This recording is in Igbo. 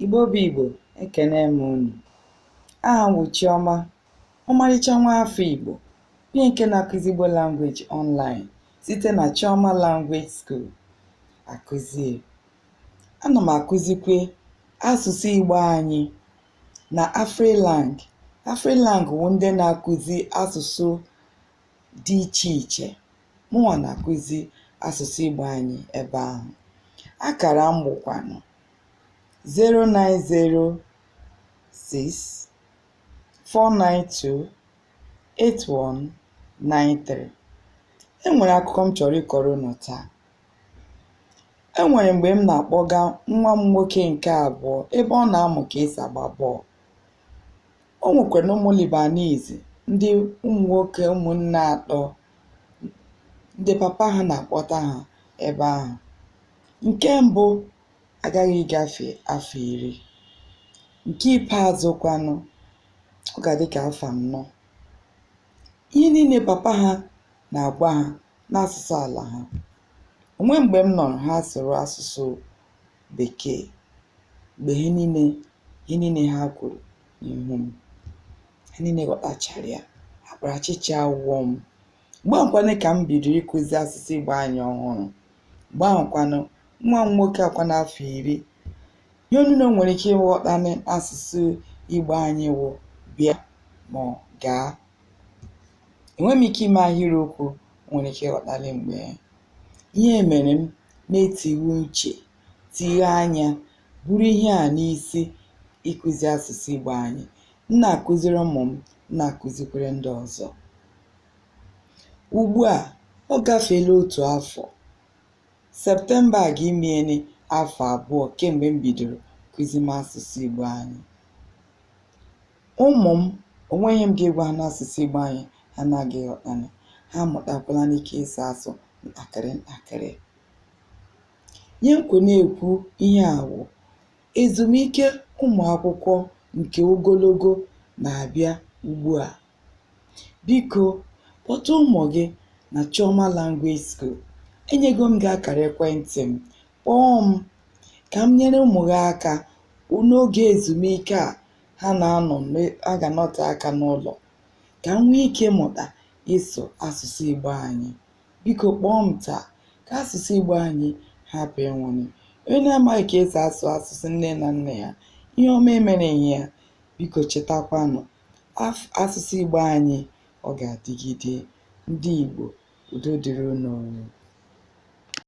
Igbo bụ Igbo ekene m unu aha m wụ Chiọma ọmarịcha nwa afọ Igbo onye nke na-akụzi Igbo language online site na Chiọma Language School akụzie ana m akụzikwe asụsụ Igbo anyị na Afrilang Afrilang wụ ndị na-akụzi asụsụ dị iche iche mụnwa na-akụzi asụsụ Igbo anyị ebe ahụ akara m bụkwanụ 0906 492 8193 e nwere akụkọ m chọrọ ịkọrọ unu taa e nwere mgbe m na-akpọga nwa m nwoke nke abụọ ebe ọ na-amụ ka esi agba bọọlụ o nwekwaranụ ụmụ Lebanese ndị ụmụ nwoke ụmụnne atọ ndị papa ha na-akpọta ha ebe ahụ nke mbụ agaghị ịgafe afọ iri nke ikpeazụ kwanụ ọ ga-adị ka afọ anọ ihe niile papa ha na-agwa ha n'asụsụ ala ha o nweghị mgbe m nụrụ ha sụrụ asụsụ bekee mgbe ihe niile ihe niile ha kwuru n'ihu m ha niile ghọtachara ya akparachicha awụọ m Mgbe ahụkwanụ ka m bido ịkụzi asụsụ Igbo anyị ọhụrụ. Mgbe ahụkwanụ, nwa m nwoke akwa n'afọ iri, ihe onye na o nwere ike ịghọtanị n'asụsụ Igbo anyị wụ bịa ma ọ gaa. Enweghị m ike ime ahịrịokwu o nwere ike ịghọtanị mgbe ihe mere m na-etighe uche, tighe anya, buru ihe a n'isi ịkụzi asụsụ Igbo anyị. M na-akụziri ụmụ m, m na-akụzikwere ndị ọzọ. ugbu a ọ gafeela otu afọ septemba a ga-emenị afọ abụọ kemgbe m bidoro kụzime asụsụ igbo anyị ụmụ m o nweghị ihe m ga-egwa ha n'asụsụ igbo anyị ha na-agaghị ịghọtanị ha mụtakwala n'ike ịsụ asụ ntakịrị ntakịrị ihe m kwo na-ekwu ihe a wụ ezumike ụmụ akwụkwọ nke ogologo na-abịa ugbu a Biko, kpọta ụmụ gị na Chioma Language School. Enyego m gị akara ekwentị m. Kpọọ m ka m nyere ụmụ gị aka n'oge ezumike a ha na-aga ịnọte aka n'ụlọ ka ha nwee ike mụta ịsụ asụsụ Igbo anyị. Biko kpọọ m taa ka asụsụ Igbo anyị hapụ ịnwụnị. Onye na-amaghị ka esi asụ asụsụ nne na nna ya, ihe ọma emereghị ya. Biko chetakwanụ asụsụ Igbo anyị ọ ga-adịgide ndị Igbo udo dịrị unu